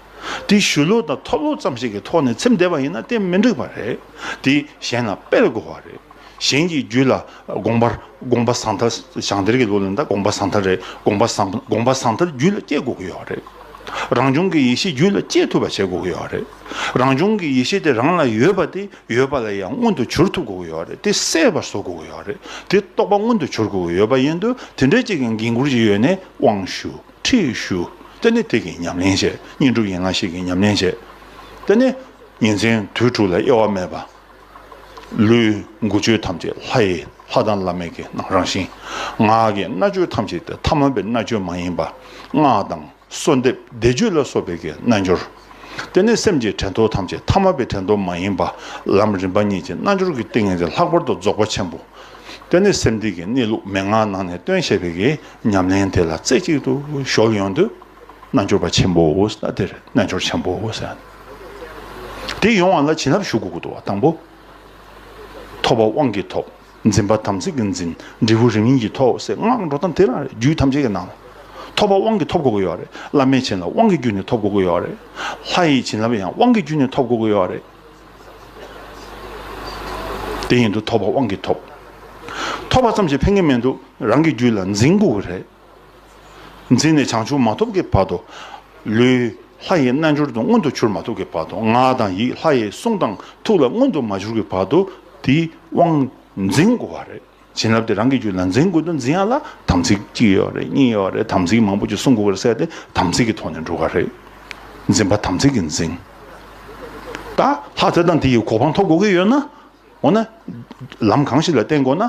དེ་བཞུ་ལོག་དང་ཐོབ་ལོག་ཙམ་ཞིག་གི་ཐོག་ནས་ཚེམས་བསྡད་པ་ཡིན་ན་དེ་མི་འགྲིག་པ་རེད། དེ་གཞན་ལ་སྤེལ་དགོས་བ་རེད། གཞན་གྱི་རྒྱུད་ལ་དགོངས་པར་དགོངས་པ་བཟང་ཐལ་ཞང་སྡེར་གྱི་ལོ་ལེན་དང་དགོངས་པ་བཟང་ཐལ་རེད་དགོངས་པ་བཟང་དགོངས་པ་བཟང་ཐལ་རྒྱུད་ལ་སྐྱེ་དགོས་ཀྱི་ཡོད་བ་རེད། རང་བྱུང་གི་ཡེ་ཤེས་རྒྱུད་ལ་སྐྱེ་ཐུབ་པ་བྱེད་དགོས་ཀྱི་ཡོད་བ་རེད། རང་བྱུང་གི་ཡེ་ཤེས་དེ་རང་ལ་ཡོད་པ་དེ་ཡོད་པ་ལ་ཡང་མངོན་དུ་གྱུར་ཐུབ་དགོས་ཀྱི་ཡོད་བ་རེད་དེ་གསལ་བར་བཟོ་དགོས་ཀྱི་ཡོད་བ་རེད་དེ་རྟོགས་པ་མངོན་དུ་གྱུར་དགོས་ཀྱི་ཡོད་བ་ཡིན་དུས་དེ་འདྲའི་ཅིག་གི་འགན་ཁུར་གྱི་ཡོད་ནས་དབང་ཞུ། ཁྲིད་ཞུ། དེ་ནས་དེ་གིས་ཉམས་ལེན་བྱས། བསྙེན་སྒྲུབ་ཡན་ལག་ཤེས་ཀྱིས་ཉམས་ལེན་བྱས། དེ་ནས་ཉིན་མཚན་དུས་དྲུག་ལ་དབྱེ་བ་མེད་པར། ལུས་མགུ་ཆོས་ཐམས་ཅད་ལྷ་ཡི་ལྷ་དང་བླ་མེད་ཀྱི་རང་བཞིན། ངག་གི་རྣ་ཆོས་ཐམས་ཅད་དེ་ཐ་མལ་པའི་རྣ་ཆོས་མ་ཡིན་པར་སྔགས་དང་གསོལ་འདེབས་བཟླས་བརྗོད་ལ་སོགས་པའི་གྱི་རྣལ་འབྱོར། དེ་ནས་སེམས་ཀྱི་དྲན་ཐོ་ཐམས་ཅད་ཐ་མལ་པའི་དྲན་ཐོ་མ་ཡིན་པར་ལམ་རིམ་པ་གཉིས་ཀྱི་རྣལ་འབྱོར་གྱི་ཏིང་ངེ་འཛིན་ལྷག་པར་དུ་རྫོགས་པ་ཆེན་པོ། དེ་ནས་སེམས་གཏིང་གི་གནས་ལུགས་མན་ངག་ནང་ནས་སྟོན་བྱེད་པའི་གྱི། ཉམས་ལེན་དེ་ལ་རྩེ་གཅིག་ཏུ་གཞོག་ཡོང་དུས་རྣལ་འབྱོར་པ་ཆེན་པོའོ་ཟེར་ན་དེར་རྣལ་འབྱོར་ཆེན་པོའོ་ཟེར། དེ་ཡོང་བ་ལ་བྱིན་རླབས་ཞུ་དགོས་དགོས་པ་དང་པོ། ཐོབ་པ་དབང་གིས་ཐོབ། འཛིན་པ་དམ་ཚིག་གིས་འཛིན། འབྲས་བུ་རིམ་ཡིན་གྱིས་ཐོབ་ཟེར་སྔགས་འགྲོ་སྟངས་དེ་རང་རེད་རྒྱུད་ཐམས་ཅད་ཀྱི་ནང་ལ། ཐོབ་པ་དབང་གིས་ཐོབ་དགོས་ཀྱི་ཡོད་རེད། བླ་མས་བྱིན་རླབས་དབང་གི་རྒྱུད་ནས་ཐོབ་དགོས་ཀྱི་ཡོད་རེད། ལྷ་ཡི་བྱིན་རླབས་ཡང་དབང་གི་རྒྱུད་ནས་ཐོབ་དགོས་ཀྱི་ཡོད་རེད། དེ་བཞིན་དུ་ཐོབ་པ་དབང་གིས་ཐོབ། ཐོབ་པ་ཙམ་ཞིག་ཕན་གྱི་མི་འདུག་རང་གི་རྒྱུད་ལ་འཛིན་དགོས་པ་རེད། འཛིན་ནས་བྱང་ཆུབ་མ་ཐོབ་ཀྱི་བར་དུ། ལུས་ལྷ་ཡི་རྣལ་འབྱོར་དུ་མངོན་དུ་གྱུར་མ་ཐུབ་ཀྱི་བར་དུ་ངག་དང་ཡིད་ལྷ་ཡི་གསུང་དང་ཐུགས་ལ་མངོན་དུ་མ་གྱུར་གྱི་བར་དུ་དེའི་དབང་འཛིན་དགོས་པ་རེད། བྱིན་རླབས་དེ་རང་གི་རྒྱུད་ལ་འཛིན་དགོས་འདུག་འཛིན་ཡག་ལ་དམ་ཚིག་གཅིག་ཡོད་རེད་གཉིས་ཡོད་རེད་དམ་ཚིག་མང་པོ་ཅིག་སྲུང་དགོས་པར་གསལ་ཏེ་དམ་ཚིག་གི་ཐོག་ནས་འགྲོ་ག་རེད། འཛིན་པ་དམ་ཚིག་གིས་འཛིན། ད་ལྷག་ཚེ་དང་དེ་ཡི་གོ་འཕང་ཐོབ་དགོས་ཀྱི་ཡོད་ན། འོ་ན། ལམ་གང་ཞིག་ལ་བརྟེན་དགོས་ན།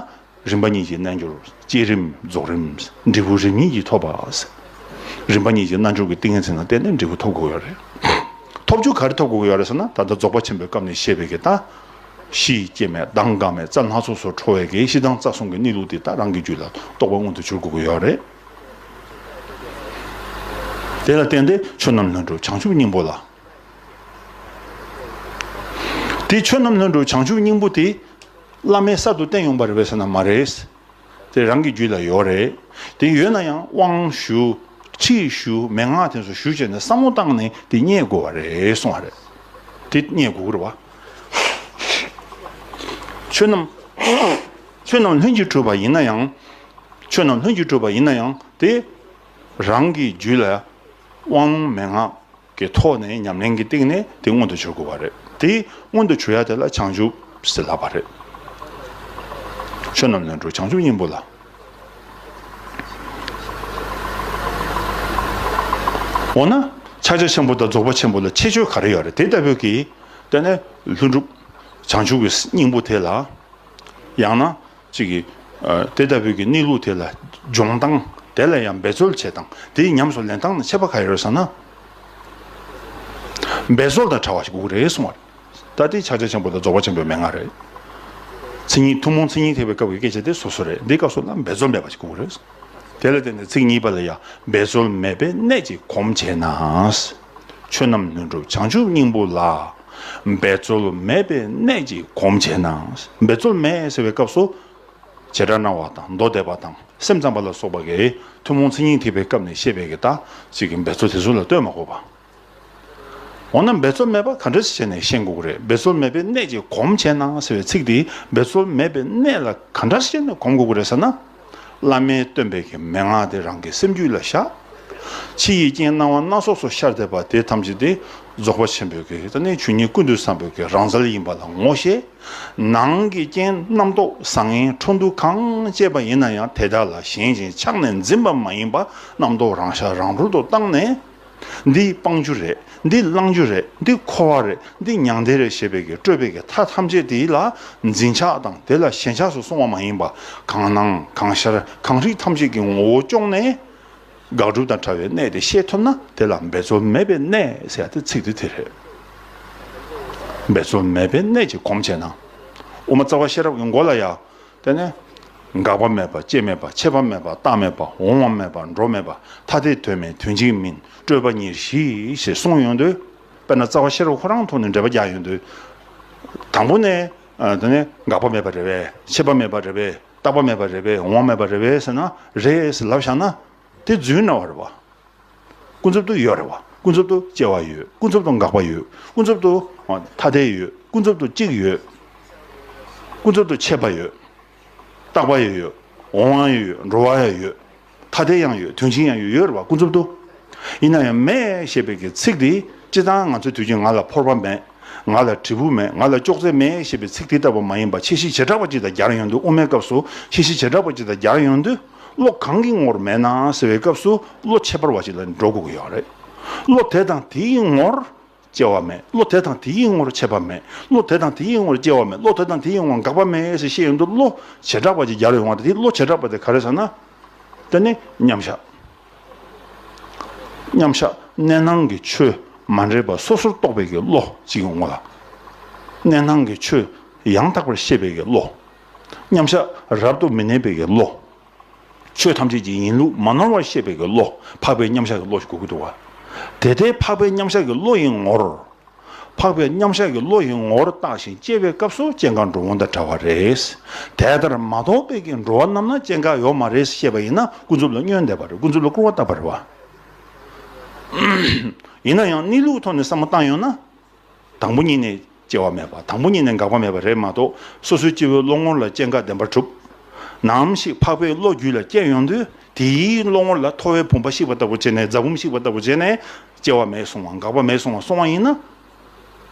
རིམ་པ་གཉིས་ཀྱི་རྣལ་འབྱོར། བསྐྱེད་རིམ་རྫོགས་རིམ། འབྲས་བུ་རིམ་གཉིས་ཀྱིས་ཐོབ་པ། རིམ་པ་གཉིས་ཀྱི་རྣལ་འབྱོར་གྱི་ཏིང་ངེ་འཛིན་ལ་བརྟེན་ནས་འབྲས་བུ་ཐོབ་དགོས་ཀྱི་ཡོད་རེད། ཐོབ་བྱུས་ག་རེ་ཐོབ་དགོས་ཀྱི་ཡོད་རེད་ཟེར་ན་ད་ལྟ་རྫོགས་པ་ཆེན་པོའི་སྐབས་ནས་བཤད་པའི་གི་ད། གཞི་ཡི་སྐྱེ་མེད་གདངས་འགག་མེད་རྩ་སྣ་ཚོགས་སུ་འཕྲོ་བས་ཀྱི་གཞི་གདངས་རྩ་གསུམ་གྱི་གནས་ལུགས་དེ་དག་རང་གི་རྒྱུད་ལ་རྟོགས་པ་མངོན་དུ་གྱུར་དགོས་ཀྱི་ཡོད་རེད། དེ་ལ་བརྟེན་ཏེ་ཆོས་རྣམས་ལྷུན་གྲུབ་བྱང་ཆུབ་སྙིང་པོ་ལ། དེ་ཆོས་རྣམས་ལྷུན་གྲུབ་བྱང་ཆུབ་སྙིང་པོ་དེ་བླ་མའི་གསར་དུ་བསྟན་ཡོང་པ་རེད་བས་སོ་ན་མ་རེད། དེ་རང་གི་རྒྱུད་ལ་ཡོད་རེད། དེ་ཡོད་ན་ཡང་དབང་ཞུ། ཁྲིད་ཞུ། མན་ངག་དེ་ཚོ་ཞུ་བྱས་ནས་བསམ་བློ་བཏང་ནས་དེ་རྙེད་དགོས་བ་རེད་གསུངས་བ་རེད། དེ་རྙེད་དགོས་རེད་བ། ཆོས་རྣམས་ཆོས་རྣམས་ལྷུན་གྱིས་གྲུབ་པ་ཡིན་ན་ཡང། ཆོས་རྣམས་ལྷུན་གྱིས་གྲུབ་པ་ཡིན་ན་ཡང་དེ་རང་གི་རྒྱུད་ལ་དབང་མན་ངག་གི་ཐོག་ནས་ཉམས་ལེན་གྱི་སྟེང་ནས་དེ་མངོན་དུ་འབྱུར་དགོས་པ་རེད་དེ། མངོན་དུ་འབྱུར་ཡ་དེ་ལ་བྱང་ཆུབ་ཟེར་ལགས་པ་རེད། ཆོས་རྣམས་ལས་འགྲོ་བྱང་ཆུབ་སྙིང་པོ་ལ། འོ་ན་ཕྱག་རྒྱ་ཆེན་པོ་དང་རྫོགས་པ་ཆེན་པོ་ལ་ཁྱད་ཆོས་ག་རེ་ཡོད་རེད་དེ་ལྟ་བུ་གིས་བལྟས་ན་ལྷུན་གྲུབ་བྱང་ཆུབ་ཀྱི་སྙིང་པོ་དེ་ལ། ཡང་ན་ཅིག་གིས། དེ་ལྟ་བུའི་གི་གནས་ལུགས་དེ་ལ་སྦྱོང་དང། དེ་ལ་ཡང་འབད་རྩོལ་བྱེད་དང་དེ་ཡི་ཉམས་སུ་ལེན་སྟངས་ནི་འཆད་པ་ག་ཡོད་ཟེར་ན། འབད་རྩོལ་དང་བྲལ་བ་ཞིག་དགུག་རེ་གསུང་བ་རེད། ད་དེའི་ཕྱག་རྒྱ་ཆེན་པོ་དང་རྫོགས་པ་ཆེན་པོའི་མན་ངག་རེད། ཚིག་གཉིས་ཐུན་མོང་ཚིག་གཉིས་ཐེག་པའི་སྐབས་ཀྱི་སྐད་ཆ་དེ་སོ་སོ་རེད་འདི་སྐབས་སུ་ལ་འབད་རྩོལ་མེད་པ་ཞིག་དགུག་རེ་གསུང། དེ་ལ་བརྟེན་ནས་ཚིག་གཉིས་པ་ལ་ཡང་འབད་རྩོལ་མེད་པའི་གནད་ཅིག་གོམས་བྱས་ན། ཆོས་རྣམས་ལྷུན་གྲུབ་བྱང་ཆུབ་སྙིང་པོ་ལ། འབད་རྩོལ་མེད་པའི་གནད་ཀྱིས་གོམས་བྱས་ན་འབད་རྩོལ་མེད་ཟེར་བའི་སྐབས་སུ། བྱེ་བྲག་སྣང་བ་དང་མདོ་སྡེ་པ་དང་སེམས་ཙམ་པ་ལ་སོགས་པ་འགའི་ཐུན་མོང་མཚན་ཉིད་ཐེག་པའི་སྐབས་ནས་བཤད་པའི་དག་ཅིག་གི་འབད་རྩོལ་དེ་ཚོ་ལ་ལྟོས་མ་གོ་བར། འོ་ན་འབད་རྩོལ་མེད་པ་ག་འདྲ་ཞིག་བྱས་ནས་ཤེས་དགོས་ཀྱི་རེད་འབད་རྩོལ་མེད་པའི་གནད་ཀྱིས་གོམས་བྱས་ན་ཟེར་བའི་ཚིག་དེས་འབད་རྩོལ་མེད་པའི་གནད་ལ་ག་འདྲ་བྱས་ནས་གོམས་དགོས་ཀྱི་རེད་ཟེར་ན། བླ་མའི་སྟོན་པའི་གི་མན་ངག་དེ་རང་གི་སེམས་རྒྱུད་ལ་བཞག། ཕྱི་ཡི་རྐྱེན་སྣང་བ་སྣ་ཚོགས་སུ་ཤར་འདེབས་པ་དེ་ཐམས་ཅད་དེ་རྫོགས་པ་ཆེན་པོའི་གི་ད་ནི་ཆོས་ཉིད་ཀུན་ཏུ་བསམ་པའི་གི་རང་རྩལ་ཡིན་པ་ལ་ངོ་ཤེས། ནང་གི་རྐྱེན་རྣམ་རྟོག་བཟང་ངན་འཕྲོ་འདུ་གང་སྐྱེས་པ་ཡིན་ན་ཡང་དེ་དག་ལ་ཞེན་ཅིང་ཆགས་ནས་འཛིན་པ་མ་ཡིན་པ་རྣམ་རྟོག་རང་ཤར་རང་ཧྲུལ་དུ་བཏང་ནས། འདི་སྤང་རྒྱུ་རེད་འདི་བླང་རྒྱུ་རེད་འདི་འཁོར་བ་རེད་འདི་མྱང་འདས་རེད་ཞེས་པའི་གི་སྤྲོས་པའི་གི་མཐའ་ཐམས་ཅད་དེ་ལ་འཛིན་ཆགས་དང་དེ་ལ་ཞེན་ཆགས་སུ་སོང་བ་མ་ཡིན་པ་གང་སྣང་གང་ཤར་གང་རིག་ཐམས་ཅད་ཀྱི་ངོ་བོ་གཅོང་ནས། དགག་སྒྲུབ་དང་བྲལ་བའི་གནད་དེ་ཤེས་ཐུབ་ན་དེ་ལ་འབད་རྩོལ་མེད་པའི་གནད་ཟེར་ཏེ་ཚིག་དེ་དེ་རེད། འབད་རྩོལ་མེད་པའི་གནད་ཀྱི་གོམས་བྱས་ན། དབུ་མ་རྩ་བ་ཤེས་རབ་ཀྱི་མགོ་ལ་ཡང་དེ་ནས། འགག་པ་མེད་པ་སྐྱེ་མེད་པ་འཆད་པ་མེད་པ་རྟག་མེད་པ་འོང་བ་མེད་པ་འགྲོ་མེད་པ་ཐ་དད་དོན་མེད་དོན་གཅིག་མིན་སྤྲོས་པ་ཉེར་བཞི་ཞེས་གསུངས་ཡོད་འདུག་དཔེར་ན་རྩ་བ་ཤེར་བ་ཁོ་རང་ཐོག་ནས་འགྲེལ་པ་རྒྱག་ཡོད་འདུག་དང་པོ་ནས། དེ་ནས་འགག་པ་མེད་པ་རེད་བས་འཆད་པ་མེད་པ་རེད་བས་རྟག་པ་མེད་པ་རེད་བས་འོང་བ་མེད་པ་རེད་བས་ཟེར་ན་རེད་ཟེར་ལབ་བཞག་ན། དེ་རྫུན་སྣང་བ་རེད་བ། ཀུན་རྫོབ་ཏུ་ཡོད་རེད་བ། ཀུན་རྫོབ་ཏུ་སྐྱེ་བ་ཡོད། ཀུན་རྫོབ་ཏུ་འགག་པ་ཡོད། ཀུན་རྫོབ་ཏུ་ཐ་དད་ཡོད། ཀུན་རྫོབ་ཏུ་གཅིག་ཡོད། ཀུན་རྫོབ་ཏུ་ཆད་པ་ཡོད། རྟག་པ་ཡང་ཡོད། འོང་བ་ཡང་ཡོད། འགྲོ་བ་ཡང་ཡོད། ཐ་དད་ཡང་ཡོད། དོན་ཆིངས་ཡང་ཡོད་ཡོད་རེད་བ་ཀུན་རྫོབ་ཏུ། ཡིན་ན་ཡང་མེད་ཞེས་པའི་གི་ཚིག་དེ་སྤྱི་གཙང་ང་ཚོའི་དུས་ཀྱི་ང་ལ་ཕོར་པ་མེད། ང་ལ་དྲིལ་བུ་མེད། ང་ལ་ཅོག་ཙེ་མེད་ཞེས་པའི་ཚིག་དེ་ལྟ་བུ་མ་ཡིན་པ་ཕྱི་གཞི་བྱེ་བྲག་པ་གཅིག་དང་རྒྱར་ཡོང་དུས་དབུ་མའི་སྐབས་སུ་ཕྱི་གཞི་བྱེ་བྲག་པ་གཅིག་དང་རྒྱར་ཡོང་དུས། བློ་གང་གི་ངོར་མེད་ན་ཟེར་བའི་སྐབས་སུ་བློ་ཁྱད་པར་བ་ཞིག་ལ་འགྲོ་དགོས་ཀྱི་ཡོད་རེད། བློ་དེ་དང་དེའི་ངོར་སྐྱེ་བ་མེད་བློ་དེ་དང་དེའི་ངོར་ཆད་པ་མེད་བློ་དེ་དང་དེའི་ངོར་སྐྱེ་བ་མེད་བློ་དེ་དང་དེའི་ངོར་འགག་པ་མེད་ཞེས་བཤད་ཡོང་དུས་བློ་བྱེ་བྲག་པ་ཅིག་རྒྱར་ཡོང་བ་དང་དེའི་བློ་བྱེ་བྲག་པ་དེ་ག་རེད་ཟེར་ན། དེ་ནི་མཉམ་བཞག་མཉམ་བཞག་གནས་སྣང་གི་ཆོས་མ་འདྲེས་པ་སོ་སོར་རྟོག་པའི་གི་བློ་གཅིག་གི་ངོ་ལ། གནས་སྣང་གི་ཆོས་ཡང་དག་པར་ཤེས་པའི་གི་བློ་མཉམ་བཞག་རབ་ཏུ་མི་གནས་པའི་ཀྱི་བློ། ཆོས་ཐམས་ཅད་ཀྱི་ཡིན་ལུགས་མ་ནོར་བར་ཤེས་པའི་ཀྱི་བློ་འཕགས་པའི་མཉམ་བཞག་གི་བློ་ཞེས་གོ་གི་འདུག་བ། དེ་ལྟའི་འཕགས་པའི་མཉམ་བཞག་གི་བློ་ཡི་ངོར། འཕགས་པའི་མཉམ་བཞག་གི་བློ་ཡི་ངོར་བརྟགས་ཤིང་དཔྱད་པའི་སྐབས་སུ་སྐྱེ་འགག་འགྲོ་འོང་དང་འདྲ་བ་རེད། དེ་ལྟར་མ་རྟོགས་པའི་ཀྱི་འགྲོ་བ་རྣམས་ན་སྐྱེ་འགག་ཡོད་མ་རེད་བཤད་པ་ཡིན་ན་ཀུན་རྫོབ་ལ་བསྙོན་འདེབས་པ་རེད་ཀུན་རྫོབ་ལ་སྐུར་བ་བཏབ་པ་རེད་བ། ཡིན་ན་ཡང་གནས་ལུགས་ཐོག་ནས་བསམ་བློ་བཏང་ཡོད་ན། དང་པོ་ཉིད་ནས་སྐྱེ་བ་མེད་པ་དང་པོ་ཉིད་ནས་འགག་པ་མེད་པ་རེད་མ་གཏོགས་སོ་སོའི་སྐྱེ་བོའི་བློ་ངོར་ལ་སྐྱེ་འགག་བདེན་པར་གྲུབ། ནའམ་ཞིག་འཕགས་པའི་བློ་རྒྱུད་ལ་སྐྱེ་ཡོང་དུས་དེའི་བློ་ངོར་ལ་ཐོ་བའི་བུམ་པ་བཤིག་པ་ལྟ་བུ་བྱས་ནས་རྫ་བུམ་བཤིག་པ་ལྟ་བུ་བྱས་ནས་སྐྱེ་བ་མེད་སོང་བ་འགག་པ་མེད་སོང་བ་སོང་བ་ཡིན་ན།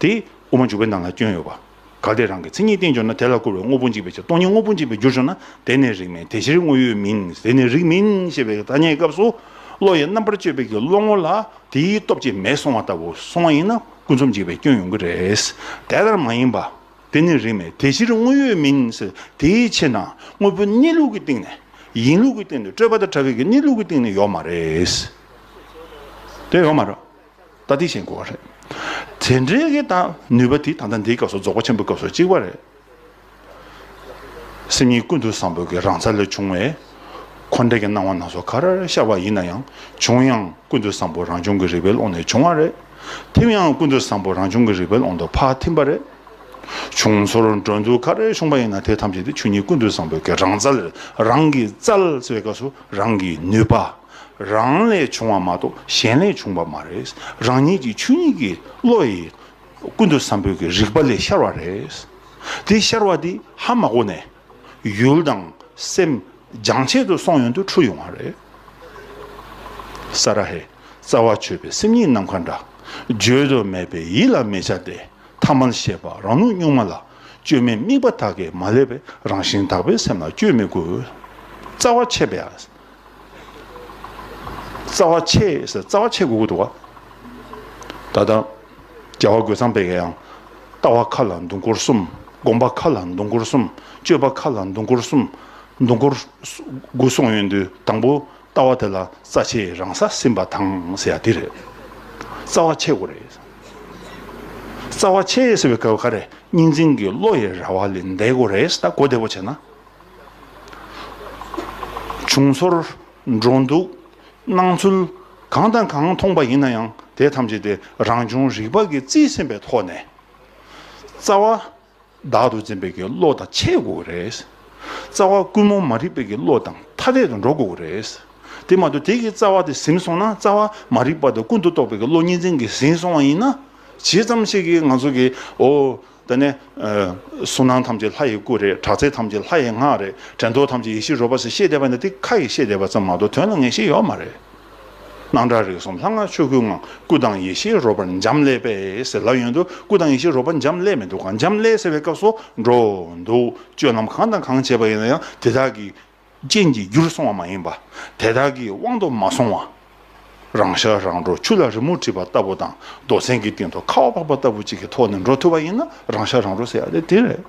དེ་དབུ་མ་འཇུག་པའི་ནང་ལ་སྐྱོན་ཡོད་པ། གལ་ཏེ་རང་གི་མཚན་ཉིད་བསྟན་བྱུང་ན་དེ་ལ་བཀུར་བའི་དངོས་པོ་འཇིག་པའི་ཕྱིར་སྟོང་ཉིད་དངོས་པོ་འཇིག་པའི་རྒྱུར་བྱུང་ན་དེ་ནི་རིགས་མེད་དེ་ཕྱིར་དངོས་ཡོད་མིན་དེ་ནི་རིགས་མིན་ཞེས་པའི་ཐ་སྙད་ཀྱི་སྐབས་སུ། བློ་ཡི་རྣམ་པར་དཔྱོད་པའི་གི་བློ་ངོ་ལ་དེའི་སྟོབས་ཀྱིས་མེད་སོང་བ་ལྟ་བུ་སོང་བ་ཡིན་ན་ཀུན་རྫོབ་འཇིག་པའི་སྐྱོན་ཡོང་གི་རེད། དེ་ལྟར་མ་ཡིན་པ། དེ་ནི་རིགས་མེད་དེ་ཕྱིར་དངོས་ཡོད་མིན་དེའི་ཕྱིར་ན་དངོས་པོ་གནས་ལུགས་ཀྱི་སྟེང་ནས་ཡིན་ལུགས་ཀྱི་སྟེང་དུ་སྤྲོས་པ་དང་བྲལ་བའི་གི་གནས་ལུགས་ཀྱི་སྟེང་ནས་ཡོད་མ་རེད། དེ་ཡོད་མ་རེད། ལྟ་འདི་བཞིན་གོ་བ་རེད། དེ་འདྲའི་གི་དང་ནུས་པ་དེ་ད་ལྟ་འདིའི་སྐབས་སུ་རྫོགས་པ་ཆེན་པོའི་སྐབས་སུ་གཅིག་པ་རེད། སེམས་ཉིད་ཀུན་ཏུ་བཟང་པོའི་གི་རང་ས་ལས་བྱུང་བའི་འཁོར་འདས་ཀྱི་སྣང་བ་ནགས་སོ་གར་ཤར་བ་ཡིན་ན་ཡང་བྱུང་ཡང་ཀུན་ཏུ་བཟང་པོ་རང་བྱུང་གི་རིག་པའི་ཀློང་ནས་བྱུང་བ་རེད། ཐིམ་ཡང་ཀུན་ཏུ་བཟང་པོ་རང་བྱུང་གི་རིག་པའི་ཀློང་དུ་ཕ་ཐིམ་པ་རེད། བྱུང་ཚོར་འགྲོ་འདུག་གར་ཤོང་པ་ཡིན་ན་དེ་ཐམས་ཅད་དེ་ཆོས་ཉིད་ཀུན་ཏུ་བཟང་པོའི་གི་རང་ས་ལས་རང་གི་རྩལ་སོའི་སྐབས་སུ་རང་གི་ནུས་པ། རང་ལས་བྱུང་བ་མ་གཏོགས་གཞན་ལས་བྱུང་བ་མ་རེད། རང་ཉིད་ཀྱི་ཆོས་ཉིད་ཀྱི་བློ་ཡིས་ཀུན་ཏུ་བཟང་པོའི་གྱི་རིག་པ་ལས་ཤར་བ་རེད། དེ་ཤར་བ་དེ་ཧ་མ་གོ་ནས་ཡུལ་དང་སེམས་སྦྱང་བྱེད་དུ་སོང་ཡོང་དུ་འཁྲུལ་ཡོང་བ་རེད། ས་ར་ཧེ། རྩ་བ་ཆོད་པའི་སེམས་ཉིད་ནམ་མཁའ་འདྲ། བརྗོད་དུ་མེད་པའི་ཡིད་ལ་མི་བྱ་སྟེ་ཐ་མལ་ཤེས་པ་རང་ལུགས་གཉུག་མ་ལ་སྤྱོད་མེད་དམིགས་པ་དག་གིས་མ་བསླད་པའི་རང་བཞིན་དག་པའི་སེམས་ལ་སྤྱོད་མི་དགོས། རྩ་བ་ཆད་པའི་རྩ་བ་ཆེ། རྩ་བ་ཆེ་དགོས་ཀྱི་འདུག་ག། ད་ལྟ་རྒྱལ་བ་རྒོད་ཚང་པད་ཀྱི་ཡང། ལྟ་བ་མཁའ་ལ་འདུ་འཁོར་གསུམ། དགོངས་པ་མཁའ་ལ་འདུ་འཁོར་གསུམ། སྤྱོད་པ་མཁའ་ལ་འདུ་འཁོར་གསུམ། འདུ་འཁོར་དགུ་གསུངས་ཡོད་འདུག་དང་པོ་ལྟ་བ་དེ་ལ་རྩ་ཆེ་རང་ས་སེམས་པ་དང་ཟེར་ཡ་དེ་རེད། རྩ་བ་ཆེ་དགོས་རེད། རྩ་བ་ཆེ་ཟེར་བའི་སྐབས་ཀ་རེ་གཉིས་འཛིན་གྱི་བློ་ཡི་ར་བ་ལས་འདས་དགོས་རེད་ད་གོ་བདེ་བོ་བྱས་ན། བྱུང་ཚོར། འགྲོ་འདུག། སྣང་ཚུལ། གང་དང་གང་མཐོང་པ་ཡིན་ན་ཡང་དེ་ཐམས་ཅད་དེ་རང་བྱུང་རིག་པ་ཀྱི་རྩིས་ཟིན་པའི་ཐོག་ནས། རྩ་བ། བདག་ཏུ་འཛིན་པའི་ཀྱི་བློ་དང་ཆད་དགོས་ཀྱི་རེད། རྩ་བ། ཀུན་རྨོངས་མ་རིག་པའི་ཀྱི་བློ་དང་ཐ་དད་དུ་འགྲོ་དགོས་ཀྱི་རེད། དེ་མ་གཏོགས་དེ་ཀྱི་རྩ་བ་དེ་ཟིན་སོང་ན་རྩ་བ། མ་རིག་པ་དང་ཀུན་དུ་རྟོག་པའི་ཀྱི་བློ་གཉིས་འཛིན་གྱི་ཟིན་སོང་བ་ཡིན་ན། ཇི་ཙམ་ཞིག་གིས་ང་ཚོ་ཀྱི་འོ། འདི་ནི། གཟུགས་སྣང་ཐམས་ཅད་ལྷ་ཡི་སྐུ་རེད། དྲག་རྩལ་ཐམས་ཅད་ལྷ་ཡི་སྔགས་རེད། དྲན་རྟོག་ཐམས་ཅད་ཡེ་ཤེས་རོལ་པ་ཟེར་བཤད་བསྡད་པ་ནི་འདི་ཁ་ཡིས་བཤད་བསྡད་པ་ཙམ་མ་གཏོགས་དོན་ལ་ངེས་ཤེས་ཡོད་མ་རེད། སྣང་གྲགས་རིག་གསུམ་ལྷ་སྔགས་ཆོས་སྐུའི་ངང་སྐུ་དང་ཡེ་ཤེས་རོལ་པར་འབྱམས་ཀླས་པས་ཟེར་ལབ་ཡོང་དུས་སྐུ་དང་ཡེ་ཤེས་རོལ་པ་འབྱམས་ཀླས་མི་འདུག་གམ་འབྱམས་ཀླས་ཟེར་བའི་སྐབས་སུ་འགྲོ་འདུག་སྤྱོད་ལམ་གང་དང་གང་བྱེད་པ་ཡིན་ན་ཡང་དེ་དག་གི་ཅན་གྱི་རྒྱུར་སོང་བ་མ་ཡིན་པ། དེ་དག་གི་དབང་དུ་མ་སོང་བ། རང་ཤ་རང་གྲོ་ཆུ་ལ་རི་མོ་བྲིས་པ་ལྟ་བུ་དང་རྡོ་ཚན་གྱི་སྟེང་དུ་ཁ་བ་འཕགས་པ་ལྟ་བུ་ཅིག་གི་ཐོག་ནས་འགྲོ་ཐུབ་པ་ཡིན་ན་རང་ཤ་རང་གྲོ་ཟེར་ཡ་དེ་དེ་རེད།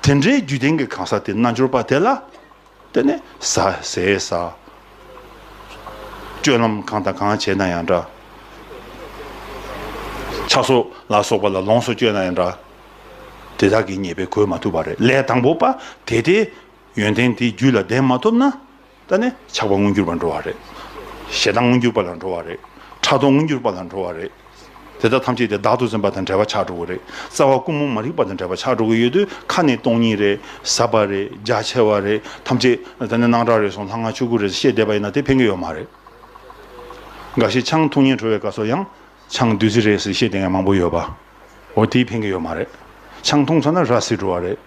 དེ་འདྲའི་རྒྱུད་ལྡན་གྱི་གང་ཟག་དེ་རྣལ་འབྱོར་པ་དེ་ལ་བརྟེན་ནས་ཟ་ཟས་ཟ། སྤྱོད་ལམ་གང་དང་གང་བྱེད་ན་ཡང་འདྲ། ཆགས་སོགས་ལ་སོགས་པ་ལ་ལོངས་སུ་སྤྱོད་ན་ཡང་འདྲ། དེ་དག་གི་ཉེས་པས་གོས་མ་ཐུབ་པ་རེད་ལས་དང་པོ་པ་དེ་སྟེ། ཡོན་ཏན་དེའི་རྒྱུད་ལ་ལྡན་མ་ཐུབ་ན། ད་ནི་ཆགས་པ་མངོན་གྱུར་པར་འགྲོ་བ་རེད། ཞེ་སྡང་མངོན་གྱུར་པ་ལ་འགྲོ་བ་རེད། ཕྲག་དོག་མངོན་གྱུར་པ་ལ་འགྲོ་བ་རེད། དེ་དག་ཐམས་ཅད་དེ་བདག་ཏུ་འཛིན་པ་དང་བྲལ་བ་ཆགས་འགྲོ་གི་རེད། རྩ་བ་ཀུན་མོང་མ་རིག་པ་དང་བྲལ་བ་ཆགས་འགྲོ་གི་ཡོད་དུས་ཁ་ནི་སྟོང་ཉིད་རེད། ཟབ་པ་རེད། རྒྱ་ཆེ་བ་རེད། ཐམས་ཅད། ད་ནི་སྣང་གྲགས་རེ་ཟུང་ལྷ་སྔགས་ཆོས་སྐུ་རེད་ཟེར་བཤད་བསྡད་པ་ཡིན་ན་དེ་ཕན་གྱི་ཡོད་མ་རེད། འགའ་ཞིག་ཆང་འཐུང་ཉལ་གྲོལ་བའི་སྐབས་སུ་ཡང། ཆང་བདུད་རྩི་རེད་ཟེར་བཤད་དེ་ངས་མང་པོ་ཡོད་པ་འོ་དེའི་ཕན་གི་ཡོད་མ་རེད་ཆང་འཐུང་ཚར་ན་ར་བཟི་འགྲོ་བ་རེད་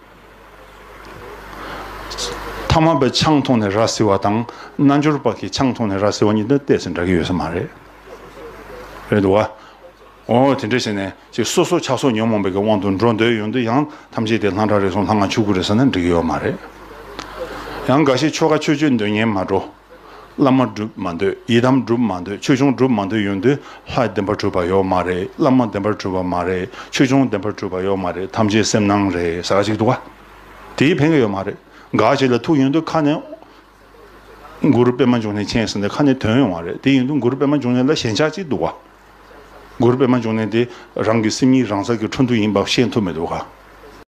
མཐའ་མ་པའི་ཆང་འཐུང་ནས་ར་བཟི་བ་དང་རྣལ་འབྱོར་པ་གི་ཆང་འཐུང་ནས་ར་བཟི་བ་གཉིས་དེ་བལྟས་ཚེ་འདྲ་གི་ཡོད་ས་མ་རེད་རེད་འདུག་བ་འོ་དེ་འདྲ་བྱས་ནས་ཅིག་སོ་སོ་ཆགས་སོགས་ཉོན་མོངས་པའི་གི་དབང་དུ་འགྲོ་འདོད་ཡོད་འདུག་ཡང་ཐམས་ཅད་དེ་ལྷང་དྲག་རེ་ཟུང་ལྷང་ང་ཕྱུག་གུ་རེད་ཟེར་ན་འགྲིག་གི་ཡོད་མ་རེད་ཡང་འགའ་ཤས་ཆོལ་ཁ་ཆོས་སྤྱོད་འདོད་ཉན་མ་འགྲོ། བླ་མ་བསྒྲུབ་མ་འདོད་ཡི་དམ་བསྒྲུབ་མ་འདོད་ཆོས་འབྱུང་བསྒྲུབ་མ་འདོད་ཡོན་ཏན་ལྷ་བདེན་པར་གྲུབ་པ་ཡོད་མ་རེད་བླ་མ་བདེན་པར་གྲུབ་པ་མ་རེད་ཆོས་འབྱུང་བདེན་པར་གྲུབ་པ་ཡོད་མ་རེད་ཐམས་ཅད་སེམས་སྣང་རེད་ཟེར་ག་ཅིག་འདུག་ག་དེའི་ཕན་ཀ་ཡོད་མ་རེད་ག་ཅིག་ལ་ཐུག་ཡོན་ཏུ་ཁ་ནས་མགུར་སྤེལ་མ་འབྱུང་ནས་མཁྱེན་ཟེར་ནས་ཁ་ནས་དོན་ཡོང་བ་རེད་དེ་ཡིན་དུ་མགུར་སྤེལ་མ་འབྱུང་ནས་ལ་ཞེན་ཆགས་ཅིག་འདུག་ག་མགུར་སྤེལ་མ་འབྱུང་ནས་དེ་རང་གི་སེམས་ཉིད་རང་ས་ཀྱི་འཕྲོ་འདུ་ཡིན་པ་ཤེས་ཐུབ་མི་འདུག་ག།